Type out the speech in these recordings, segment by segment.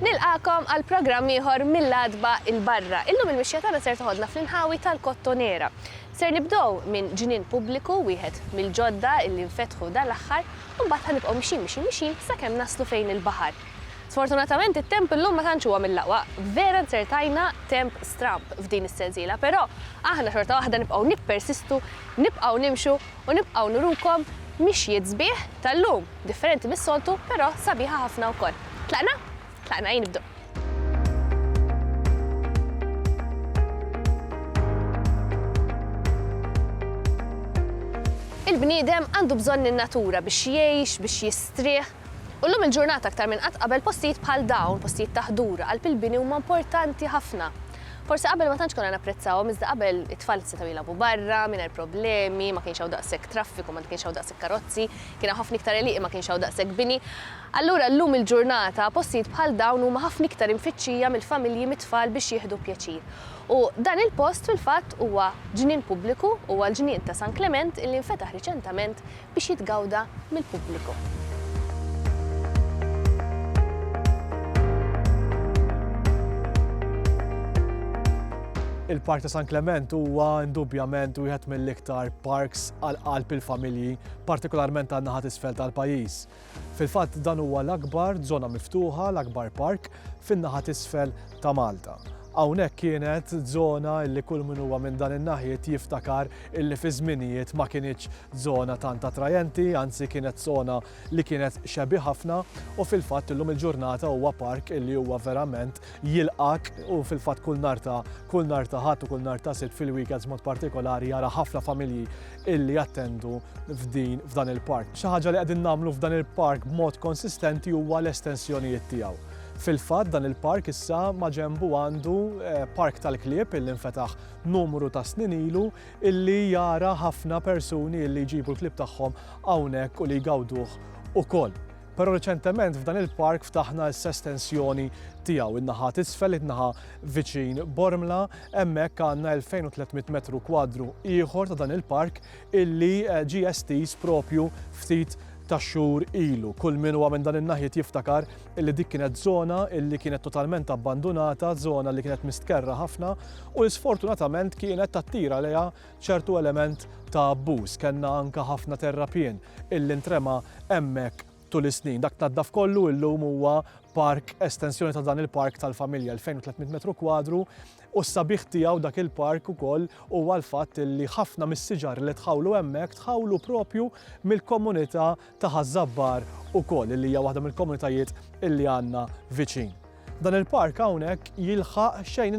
Nilqakom għal programm ieħor mill-adba il-barra. Illum il-mixja tagħna ser toħodna fl-inħawi tal-Kottonera. Ser nibdow minn ġnien pubbliku wieħed mill-ġodda illi nfetħu dal-aħħar u mbagħad ħanibqgħu mixin mixin mixin sakemm naslu fejn il-baħar. Sfortunatament it-temp illum ma tantx huwa mill-aqwa, vera nzertajna temp stramb f'din is-sensiela, però aħna xorta waħda nibqgħu nippersistu, nibqgħu nimxu u nibqgħu nurukom mixjiet sbieħ tal-lum, differenti mis-soltu però sabiħa ħafna wkoll. Tlaqna? Tlaqna ejn nibdew. Il-bniedem għandu bżonn in-natura biex jgħix, biex jistrieħ, U llum il-ġurnata aktar minn qatt qabel postijiet bħal dawn, postijiet ta' ħdur, qalb il-bini huma importanti ħafna. Forsi qabel ma tantx konna napprezzawhom iżda qabel it-tfal setgħu jilgħabu barra mingħajr problemi, ma kienx hawn daqshekk traffiku, ma kienx hawn daqshekk karozzi, kien hawn ħafna iktar għelieqi ma kienx hawn daqshekk bini. Allura llum il-ġurnata postijiet bħal dawn huma ħafna iktar imfittxija mill-familji mit-tfal biex jieħdu pjaċir. U dan il-post fil-fatt huwa ġnien pubbliku, huwa l-ġnien ta' San Klement illi nfetaħ riċentament biex jitgawda mill-pubbliku. Il-Park ta' San Klement huwa indubjament wieħed mill-iktar parks għal qalb il-familji, partikolarment għan-naħa t'isfel tal-pajjiż. Fil-fatt dan huwa l-akbar żona miftuħa, l-akbar park, fin-naħa t'isfel ta' Malta. Hawnhekk kienet żona li kull min huwa minn dan in-naħiet jiftakar illi fi żminijiet ma kinitx żona tant attrajenti, anzi kienet żona li kienet shabby ħafna u fil-fatt illum il-ġurnata huwa park illi huwa verament jilqgħek u fil-fatt kull nhar ta' kull nhar ta' Ħadd u kull nhar ta' Sibt fil-weekends b'mod partikolari jara ħafna familji illi jattendu f'din f'dan il-park. Xi ħaġa li qegħdin nagħmlu f'dan il-park b'mod konsistenti huwa l-estensjonijiet tiegħu. Fil-fatt dan il-park issa maġenbu għandu park tal-klieb illi nfetaħ numru ta' snin ilu illi jara ħafna persuni illi jġibu l-klieb tagħhom hawnhekk u li jgawduh ukoll. Però reċentement f'dan il-park ftaħna issa estensjoni tiegħu in-naħa t'isfel, in-naħa viċin Bormla, hemmhekk għandna 2,300 metru kwadru ieħor ta' dan il-park illi ġie estiż propju ftit ta' xhur ilu. Kull min huwa minn dan in-naħjiet jiftakar li dik kienet żona li kienet totalment abbandunata, żona li kienet mistkerra ħafna u li sfortunatament kienet tattira lejha ċertu element ta' abbuż, kellna anke ħafna terrapien illi ntrema hemmhekk tul is-snin. Dak tnaddaf kollu illum huwa park, estensjoni ta' dan il-park tal-familja, 2,300 metru kwadru, u s-sabiħ tiegħu dak il-park ukoll huwa l-fatt illi ħafna mis-siġar li tħawlu hemmhekk tħawlu propju mill-komunità ta' Ħaż-Żabbar ukoll illi hija waħda mill-komunitajiet illi għandna viċin. Dan il-park hawnhekk jilħaq xejn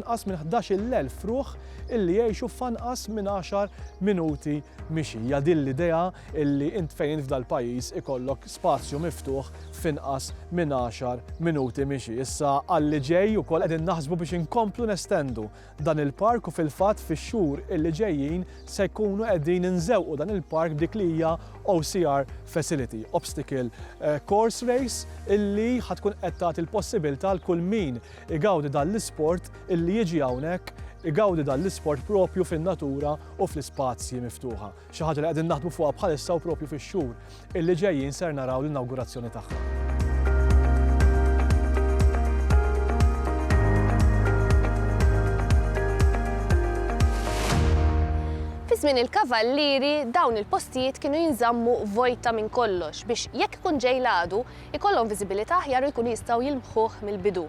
inqas minn ħdax-il elf ruħ illi jgħixu f'anqas minn għaxar minuti mixi. Hija din l-idea illi int fejn int f'dal-pajjiż ikollok spazju miftuħ f'inqas minn għaxar minuti mixi. Issa għalli ġej ukoll qegħdin naħsbu biex inkomplu nestendu dan il-park u fil-fatt fix-xhur illi ġejjin se jkunu qegħdin inżewqu dan il-park b'dik li hija OCR facility, Obstacle Course Race, illi ħa tkun qed tagħti l-possibilità għal kull min igawdi dan l-isport illi jiġi hawnhekk igawdi dan l-isport propju fin-natura u fl-ispazji miftuħa. Xi ħaġa li qegħdin naħdmu fuqha bħalissa u proprju fix-xhur illi ġejjin ser naraw l-inawgurazzjoni tagħha. Fi żmien il-Kavallieri dawn il-postijiet kienu jinżammu vojta minn kollox biex jekk ikun ġej l-għadu ikollhom viżibilità aħjar u jkunu jistgħu jilmħuh mill-bidu.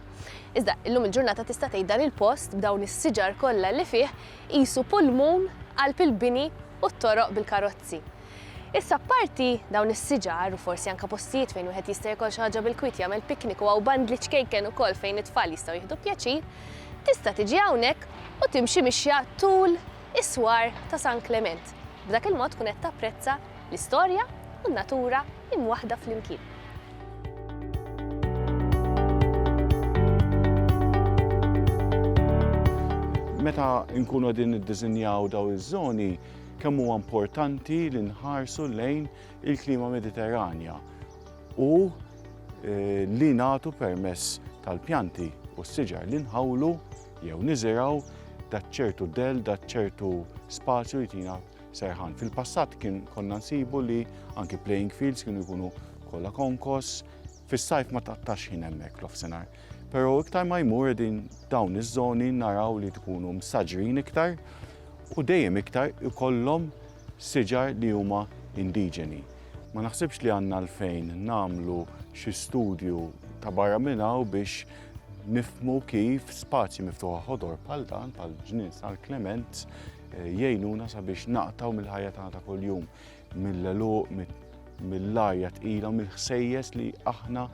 Iżda illum il-ġurnata tista' tgħid dan il-post b'dawn is-siġar kollha li fih qisu pulmun qalb il-bini u t-toroq bil-karozzi. Issa apparti dawn is-siġar u forsi anke postijiet fejn wieħed jista' jiekol xi ħaġa bil-kwiet, jagħmel picnic u hawn bandli ċkejken ukoll fejn it-tfal jistgħu jieħdu pjaċir, tista' tiġi hawnhekk u timxi mixja tul is-swar ta' San Klement. B'dak il-mod tkun qed tapprezza l-istorja u n-natura imwaħħda flimkien. Meta nkunu qegħdin niddiżinjaw daw iż-żoni, kemm huwa importanti li nħarsu lejn il-klima Mediterranja u eh, li nagħtu permess tal-pjanti u s-siġar li nħawlu jew niżiraw daċċertu del, daċċertu spazju jtina serħan. Fil-passat kien konna nsibu li anki playing fields kienu jkunu kollha konkos, fis-sajf ma taqtax ħin hemmhekk l-offsenar. Pero iktar ma jmur din dawn iż-żoni naraw li tkunu msaġrin iktar u dejjem iktar ikollhom siġar li huma indiġeni. Ma naħsibx li għandna l-fejn namlu xi studju ta' barra minnaw biex nifmu kif spazji miftuħa ħodor pal dan, pal ġnien sal Klement, Jgħinuna sabiex naqtaw mill-ħajja tagħna ta' kuljum, mill-għeluq, mill-lajja tqila u mill-ħsejjes li aħna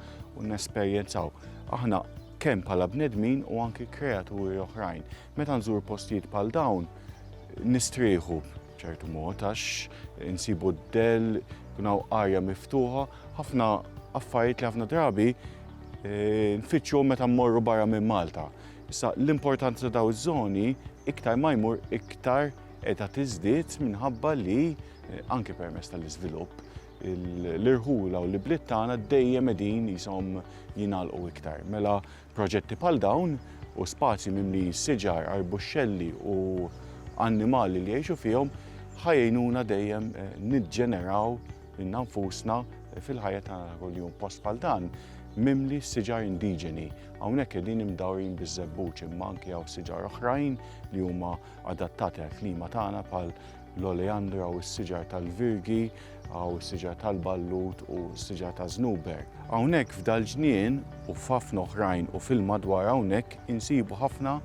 nesperjenzaw. Aħna kemm bħala bnedmin u anki kreaturi oħrajn. Meta nżur postijiet bħal dawn, nistrieħu ċertu mod għax insibu d-del, kunaw arja miftuħa, ħafna affarijiet li ħafna drabi eh, nfittxu meta mmorru barra minn Malta. Issa, l-importanza ta' dawn iż-żoni iktar ma jmur iktar qiegħda tiżdied minħabba li, anke permezz tal-iżvilupp, l-irħula u l-ibliet tagħna dejjem qegħdin qishom jingħalqu iktar. Mela proġetti bħal dawn u spazji mimlijin siġar, arbuxxelli u annimali li jgħixu fihom ħa jgħinuna dejjem niġġeneraw lilna nfusna fil-ħajja tagħna ta' kuljum post bħal dan mimli siġar indiġeni. Hawnhekk qegħdin imdawrin biż-żebbuġ imma anke hawn siġar oħrajn li huma adattati għall-klima tagħna bħal l-oleandra u s-siġar tal-virgi, hawn is-siġar tal-ballut u s-siġar ta' żnuber. Hawnhekk f'dal-ġnien u f'ħafna oħrajn u fil-madwar hawnhekk insibu ħafna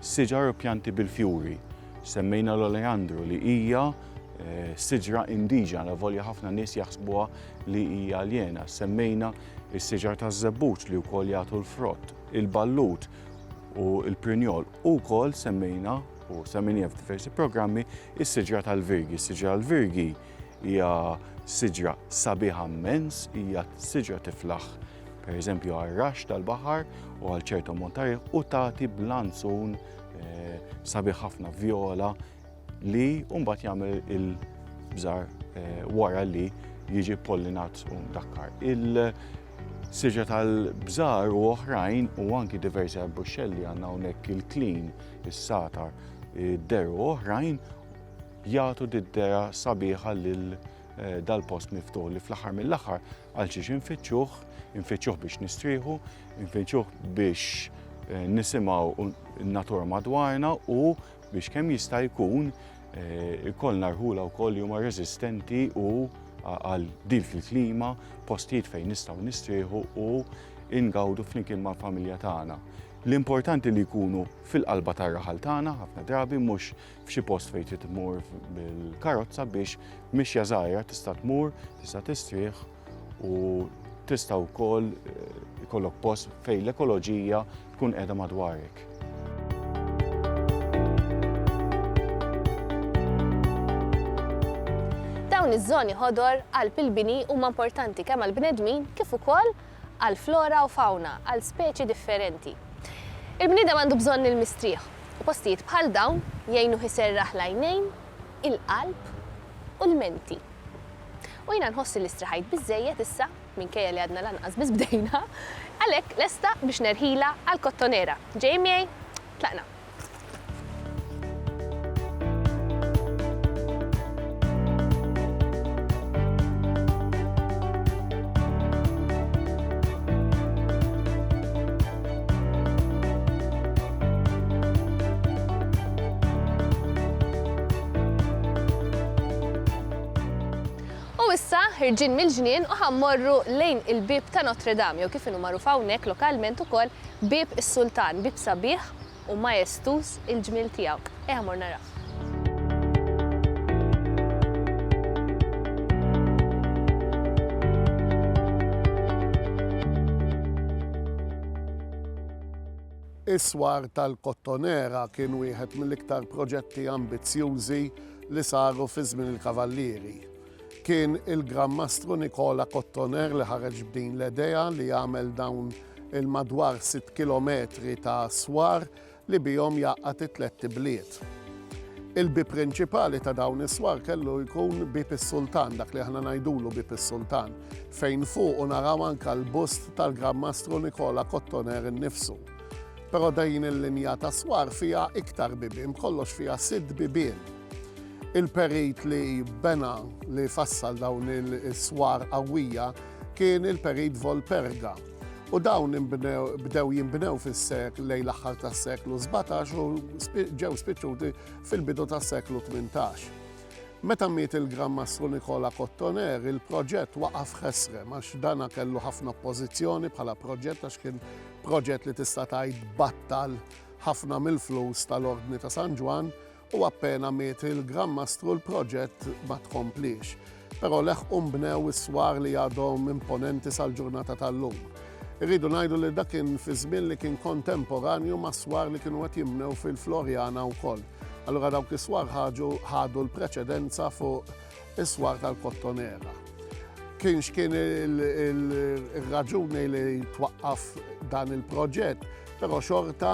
siġar u pjanti bil-fjuri. Semmejna l-oleandru li hija eh, siġra indiġena volja ħafna nies jaħsbuha li hija aljena. Semmejna is-siġar taż-żebbuġ li wkoll jagħtu l-frott, il-ballut u l-prinjol u wkoll semmejna u semmejna f'diversi programmi is-siġra tal-virgi. Is-siġra tal-virgi hija siġra sabiħa immens, hija siġra tiflaħ per eżempju għal-rax tal-baħar u għal ċertu montar u tagħti blanzun eh, sabiħ ħafna viola li mbagħad jagħmel il-bżar eh, wara li jiġi pollinat u mdakkar. Il-siġa tal-bżar u oħrajn u anki diversi arbuxxelli għandna hawnhekk il-klin, is-satar, id-deru u oħrajn jagħtu d-dera sabiħa lil eh, dal-post miftuħ li fl-aħħar mill-aħħar għal xiex infittxuh, infittxuh biex nistrieħu, infittxuh biex eh, nisimaw natura madwarna u biex kemm jista' jkun eh, ikollna rħula wkoll li huma reżistenti u għal dik il-klima, postijiet fejn nistgħu nistrieħu u ingawdu flimkien mal-familja tagħna. L-importanti li jkunu fil-qalba tar-raħal tagħna ħafna drabi mhux f'xi post fejn trid tmur bil-karozza biex mixja żgħira tista' tmur, tista' tistrieħ u tista' wkoll eh, ikollok post fejn l-ekoloġija tkun qiegħda madwarek. Dawn iż-żoni ħodor għal pilbini huma importanti kemm għal bnedmin kif ukoll għal flora u fauna għal speċi differenti. Il-bniedem għandu bżonn il-mistrieħ u postijiet bħal dawn jgħinu ħiserraħ lajnejn il-qalb u l-menti. U jiena nħoss li strieħajt biżżejjed issa, minkejja li għadna lanqas biss bdejna, għalhekk lesta biex nerħilha għall-Kottonera. Ġejjin miegħi? Tlaqna! U issa ħirġin mill-ġnien u ħammorru lejn il-bieb ta' Notre Dame jew kif inhu magħruf hawnhekk lokalment ukoll Bieb is-Sultan, bieb sabiħ, u majestuż il-ġmiel tiegħu. Ejja mmorru narawh. Is-Swar tal-Kottonera kien wieħed mill-iktar proġetti ambizzjużi li saru fi żmien il-Kavallieri. Kien il-Gran Mastru Nikola Cottoner li ħareġ b'din l-edea li jagħmel dawn il-madwar 6 kilometri ta' swar li bihom jgħaqqad it-tlett ibliet. Il-bib prinċipali ta' dawn is-swar kellu jkun bib is-Sultan, dak li aħna ngħidulu bib is-Sultan, fejn fuq u naraw anka l-bust tal-Gran Mastru Nikola Cottoner innifsu. Però dejn il-linja ta' swar fiha iktar bibien, kollox fiha sitt bibien. Il-perit li bena, li fassal dawn is-swar qawwija kien il-perit Volperga u dawn bdew jinbnew fis-sekl lejn l-aħħar tas-seklu 17 u ġew spiċċuti fil-bidu tas-seklu 18. Meta miet il-Gran Mastru Nikola Cottoner, il-proġett waqaf ħesrem għax dana kellu ħafna oppożizzjoni bħala proġett għax kien proġett li tista' tgħid battal ħafna mill-flus tal-Ordni ta' San Ġwann u appena miet il-Gran Mastru l-proġett ma tkompliex, però leħqu nbnew is-swar li għadhom imponenti sal-ġurnata tal-lum. Irridu ngħidu li dak kien fi żmien li kien kontemporanju mas-swar li kienu qed jinbnew fil-Floriana wkoll. Allura dawk is-swar ħadu l-preċedenza fuq Is-swar tal-Kottonera. Kien x'kien il-raġuni li twaqqaf dan il-proġett, però xorta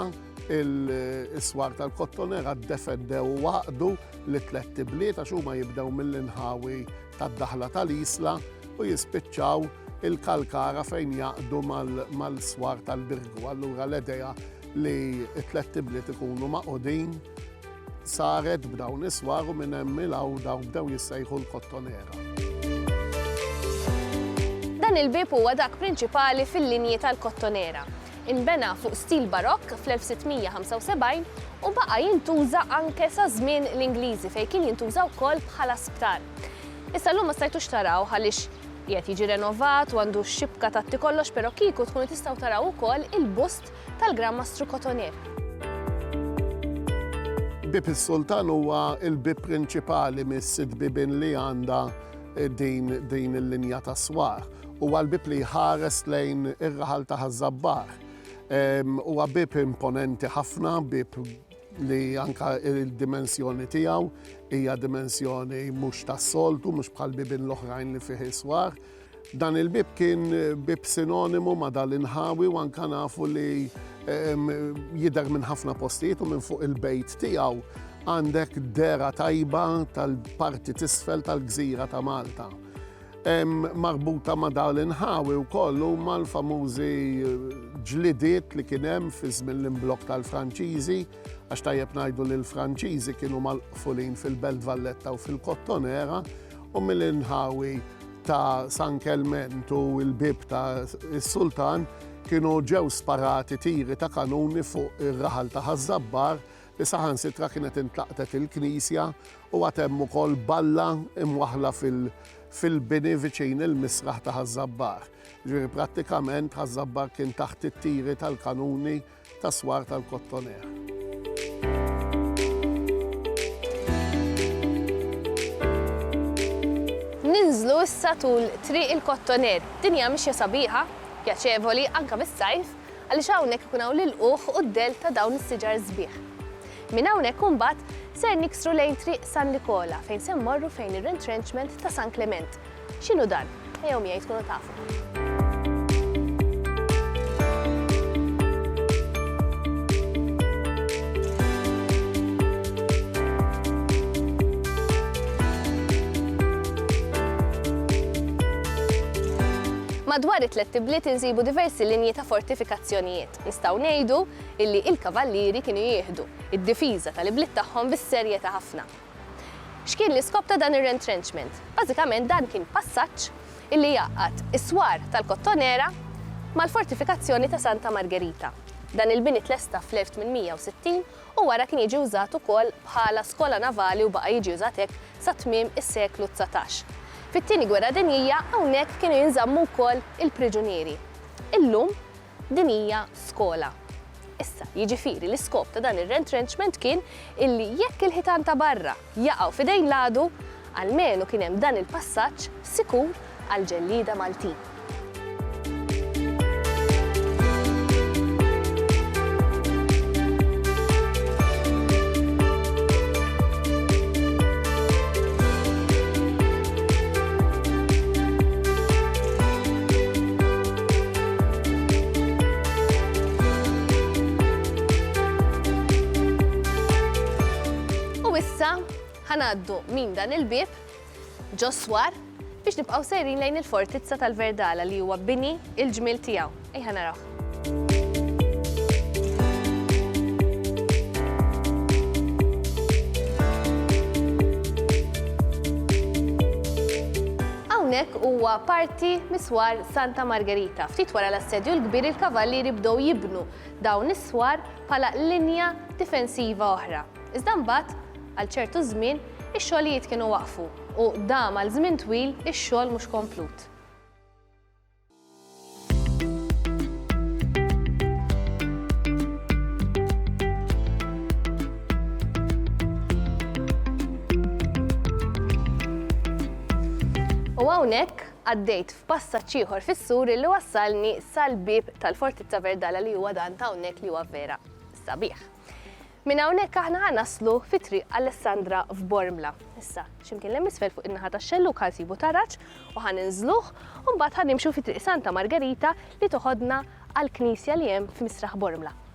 il-swar tal-kottonera defendew waqdu li tlet tibliet għax huma jibdew mill-inħawi tad-daħla tal-isla u jispiċċaw il-kalkara fejn jaqdu mal-swar tal-birgu. Allura l-idea li t-tlet tibliet ikunu maqudin Saret b'dawn is-swar u minn hemm il hawn dawn bdew jissejħu l-kottonera. Dan il-bieb huwa dak prinċipali fil-linji tal-kottonera. Inbena fuq stil barokk fl-1675 u baqa' jintuża anke sa żmien l-Ingliżi fejn kien jintuża wkoll bħala sptar. Issa llum ma stajtux taraw għaliex qiegħed jiġi renovat u għandu x-xibka tatti kollox però kieku tkunu tistgħu taraw ukoll il-bust tal-Gran Mastru Cotonnier. Bieb is-Sultan huwa l-bieb prinċipali mis-sitt bibien li għandha din il-linja tas-swar. Huwa l-bieb li jħares lejn ir-raħal ta' Ħaż-Żabbar. Huwa bieb imponenti ħafna, bieb li anka il-dimensjoni tiegħu hija dimensjoni mhux tas-soltu, mhux bħal bibien l-oħrajn li fih is-swar. Dan il-bieb kien bieb sinonimu ma' dan l-inħawi u anke nafu li jidher minn ħafna postijiet u minn fuq il-bejt tiegħu għandek dera tajba tal-parti tisfel tal-gżira ta' Malta. Marbuta ma' dan l-inħawi wkoll huma l-famużi ġlidiet li kien hemm fi żmien l-imblokk tal-Franċiżi, għax tajjeb ngħidu li l-Franċiżi kienu mal-qfulin fil-Belt Valletta u fil-Kottonera, u mill-inħawi ta' San Kelment u l-bieb ta' s-Sultan kienu ġew sparati tiri ta' kanuni fuq ir-raħal ta' Ħaż-Żabbar li saħansitra kienet intlaqtet il-knisja u għad hemm ukoll balla imwaħħla fil-bini viċin il-misraħ ta' Ħaż-Żabbar. Ġifieri prattikament Ħaż-Żabbar kien taħt it-tiri tal-kanuni tas-swar tal-Kottoner. Ninżlu issa tul Triq il-Kottoner. Din hija mixja sabiħa, pjaċevoli anke fis-sajf għaliex hawnhekk ikun hawn l-ilqugħ u d-dell ta' dawn is-siġar sbieħ. Minn hawnhekk imbagħad ser niksru lejn Triq San Nikola fejn se mmorru fejn ir-Retrenchment ta' San Klement. X'inhu dan? Ejjew miegħi tkunu tafu. Madwar it-tlet tibliet insibu diversi linji ta' fortifikazzjonijiet. Nistgħu ngħidu illi il-kavallieri kienu jieħdu id-difiża tal-ibliet tagħhom bis-serjetà ħafna X'kien l-iskop ta' dan ir-rentrenchment? Bażikament dan kien passaġġ li jgħaqqad is-swar tal-Kottonera mal-fortifikazzjoni ta' Santa Margherita. Dan il-bini tlesta fl-1860 u wara kien jiġi wżat ukoll bħala skola navali u baqa' jiġi wżat hekk sa tmiem is-seklu dsatax. Fit-Tieni Gwerra Dinjija hawnhekk kienu jinżammu wkoll il-priġunieri. Illum Din hija skola. Issa, jiġifieri l-iskop ta' dan ir-retrenchment kien illi jekk il-ħitan ta' barra jaqgħu f'idejn l-għadu, almenu kien hemm dan il-passaġġ sikur għall-ġellieda Maltin. U issa ħanaddu minn dan il-bib ġoswar biex nibqgħu sejrin lejn il-fortizza tal-Verdala li huwa bini il-ġmil tiegħu. Ejħa naraw. Hawnhekk huwa parti miswar Santa Margherita. Ftit wara l-Assedju l-Kbir il-Kavallieri bdew jibnu dawn is-swar bħala linja difensiva oħra. Iżda mbagħad, għal ċertu żmien, ix-xogħlijiet kienu waqfu u dam għal żmien twil ix-xogħol mhux komplut. U hawnhekk, Għaddejt f'passaġġ ieħor fis-sur illi wassalni sal-bieb tal-Fortizza Verdala li huwa dan ta' hawnhekk li huwa vera sabiħ. Minn hawnhekk aħna ħa naslu fi Triq Alessandra f'Bormla. Issa, x'imkien l-hemm isfel fuq in-naħa tax-xellug ħa nsibu taraġ u ħa ninżluh u mbagħad ħa nimxu fi Triq Santa Margerita li toħodna għall-knisja li hemm f'Misraħ Bormla.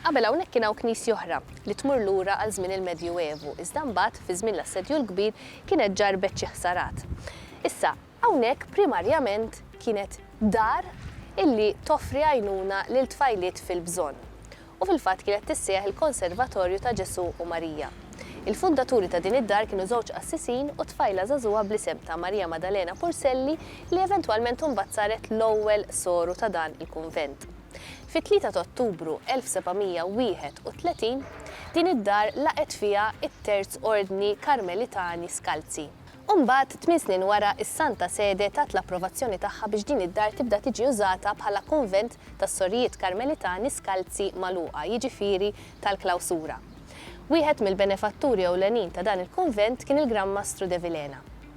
Qabel hawnhekk kien hawn knisja oħra, li tmur lura għal żmien il-Medjuevu, iżda mbagħad, fi żmien l-Assedju l-Kbir, kienet ġarrbet xi ħsarat. Issa, hawnhekk primarjament kienet dar illi toffri għajnuna lil tfajliet fil-bżonn. U fil-fatt kienet tissejjaħ il-Konservatorju ta' Ġesù u Marija. Il-fundaturi ta' din id-dar kienu żewġ qassisin u tfajla żagħżugħa bl-isem ta' Marija Madalena Purselli li eventwalment imbagħad saret l-ewwel soru ta' dan il-kunvent. Fit-tlieta ta' Ottubru 1731, din id-dar laqgħet fiha t-Terz Ordni Karmelitani Skalzi. U mbagħad, tmien snin wara, is-Santa Sede tat l-approvazzjoni tagħha biex din id-dar tibda tiġi użata bħala kunvent tas-Sorijiet Karmelitani Skalzi magħluqa, jiġifieri tal-klawsura. Wieħed mill-benefatturi ewlenin ta' dan il-kunvent kien il-Gran Mastru de Vilhena.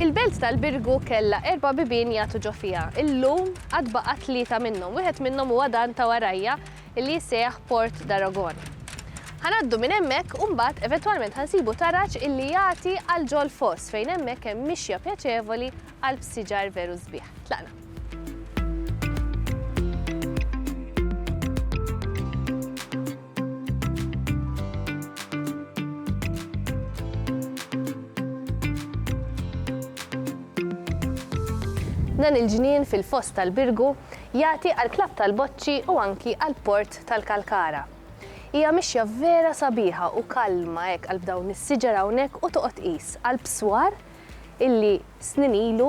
Il-belt tal-Birgu kellha erba' bibien jagħtu ġo fiha. Illum għad baqa' tlieta minnhom. Wieħed minnhom huwa dan ta' warajja li jissejjaħ Port d'Aragon. Ħa ngħaddu minn hemmhekk u mbagħad eventwalment ħa nsibu taraġ illi jagħti għal ġo l-foss fejn hemmhekk hemm mixja pjaċevoli qalb siġar veru sbieħ. Tlaqna. Dan il-ġnien fil-Foss tal-Birgu jagħti għall-Klabb tal-Boċċi u anki għall-Port tal-Kalkara. Hija mixja vera sabiħa u kalma hekk qalb dawn is-siġar hawnhekk u toqgħod tqis qalb swar illi snin ilu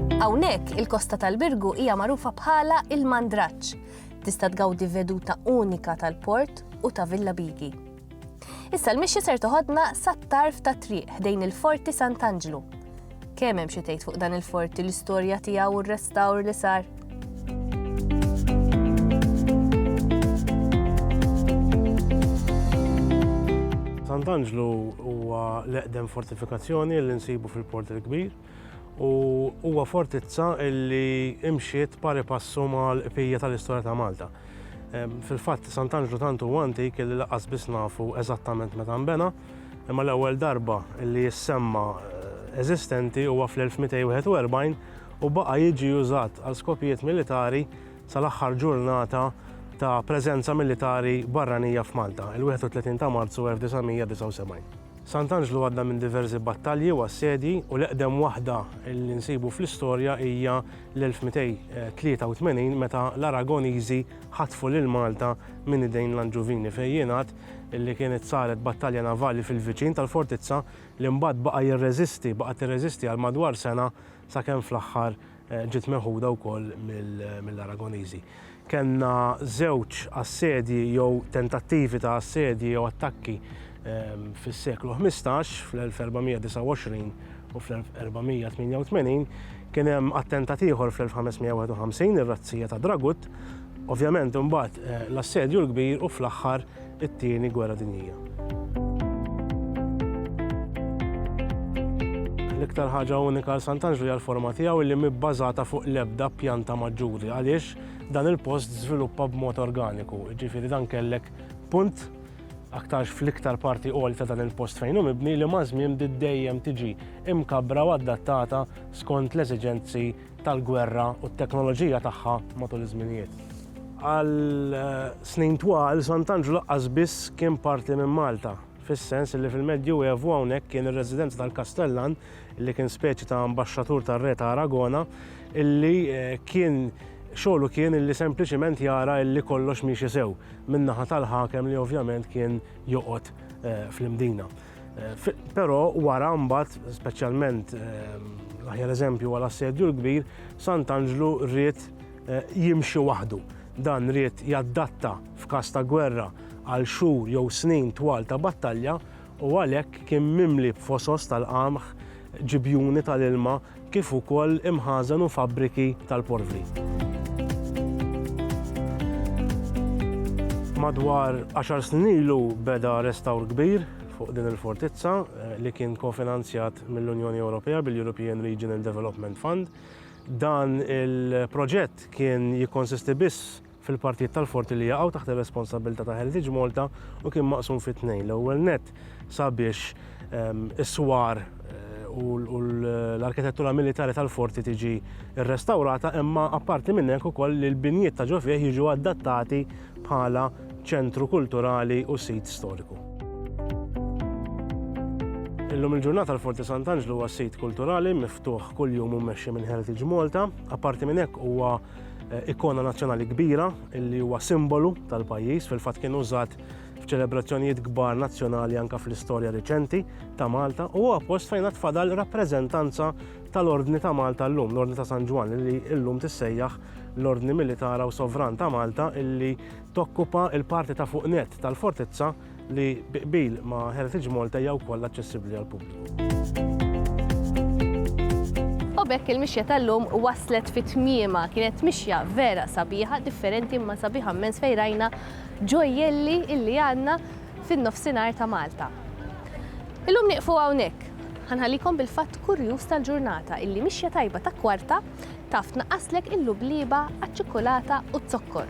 Hawnhekk il-kosta tal-Birgu hija magħrufa bħala il-Mandraġġ. Tista' tgawdi veduta unika tal-port u ta' Villa Bigi. Issa l-mixja ser toħodna sat-tarf ta' triq ħdejn il-Forti Sant'Anġlu. Kemm hemm xi tgħid fuq dan il-forti l-istorja tiegħu u r-restawr li sar. Sant'Anġlu huwa l-eqdem fortifikazzjoni li nsibu fil-Port il-Kbir. u huwa fortizza li imxiet pari passu mal-qbija tal-istorja ta' Malta. Fil-fatt, Sant'Anġlu tant huwa antik li laqas biss nafu eżattament meta nbena, imma l-ewwel darba li jissemma eh, eżistenti huwa fl-1241 u baqa' jiġi użat għal skopijiet militari sal-aħħar ġurnata ta' preżenza militari barranija f'Malta, il-31 ta' Marzu 1979. Sant'Anġlu għadda minn diversi battalji u assedji u l-eqdem waħda li nsibu fl-istorja hija l-1283 meta l-Aragoniżi ħatfu lil Malta minn idejn l-Anġuvini fejn jingħad li kienet saret battalja navali fil-viċin tal-fortizza li mbagħad baqa' jirreżisti, baqgħet tirreżisti għal madwar sena sakemm fl-aħħar Ġiet meħuda wkoll mill-Aragoniżi. Kellna żewġ assedji jew tentattivi ta' assedji jew attakki fis-seklu ħmistax, fl-1429 u fl-1488. Kien hemm attentat ieħor fl-1551, ir-razzija ta' Dragut. Ovvjament imbagħad l-assedju l-kbir u fl-aħħar it-Tieni Gwerra Dinjija. L-iktar ħaġa unika għal Sant'Anġlu hija l-forma tiegħu li mibbażata fuq l-ebda pjanta maġġuri għaliex dan il-post żviluppa b'mod organiku. Ġifieri dan kellek punt aktarx fl-iktar parti qol ta' dan il-post fejn hu mibni li mażmien dejjem tiġi imkabra u adattata skont l-eżiġenzi tal-gwerra u t-teknoloġija tagħha matul iż-żminijiet. Għal snin twal, Sant'Anġlu laqqas biss kien parti minn Malta, fis-sens li fil-Medju Evu hawnhekk kien ir-residenza tal-kastellan, li kien speċi ta' ambaxxatur tar-re ta' Aragona, illi kien xogħlu kien illi sempliċiment jara illi kollox miexi sew, min-naħa tal-ħakem li ovvjament kien joqgħod fl-Imdina. Eh, però wara mbagħad, speċjalment ehm, l-aħjar eżempju għal assedju l-kbir, Sant'Anġlu rrit eh, jimxi waħdu. Dan rrit jaddatta f'każ ta' gwerra għal xhur jew snin twal ta' battalja u għalhekk kien mimli b'fosos tal-qamħ ġibjuni tal-ilma kif ukoll imħażen u fabbriki tal-porvri. Madwar għaxar snin ilu beda restawr kbir fuq din il-fortizza li kien kofinanzjat mill-Unjoni Ewropea bil-European Regional Development Fund. Dan il-proġett kien jikkonsisti biss fil-partijiet tal-forti li jaqgħu taħt ir-responsabbiltà ta' Heritage Malta u kien maqsum fi tnejn. L-ewwel nett sabiex is-swar u l-arkitettura militari tal-forti tiġi rrestawrata imma apparti minn hekk ukoll li l-binjiet ta' ġo fih jiġu adattati bħala ċentru kulturali u sit storiku. Illum il-ġurnata l-Forti Sant'Anġlu huwa sit kulturali miftuħ kuljum u mmexxi minn Heritage Malta. Apparti minn hekk huwa eh, ikona nazzjonali kbira li huwa simbolu tal-pajjiż fil-fatt kien użat f'ċelebrazzjonijiet kbar nazzjonali anka fl-istorja riċenti ta' Malta u huwa post fejn tfadal rappreżentanza tal-Ordni ta' Malta llum, l-Ordni ta' San Ġwan li llum tissejjaħ l-Ordni Militara u Sovran ta' Malta illi tokkupa il-parti ta' fuq net tal-fortizza li bi qbil ma' Heritage Malta hija wkoll aċċessibbli għall-pubbliku. U b'hekk il-mixja tal-lum waslet fi tmiema kienet mixja vera sabiħa, differenti imma sabiħa mmens fejn rajna ġojjelli illi għandna fin-nofsinhar ta' Malta. Illum nieqfu hawnhekk. Ħanħallikom bil-fatt kurjuż tal-ġurnata illi mixja tajba ta' kwarta taf tnaqqaslek il-lublieba għaċ-ċikkulata u z-zokkor.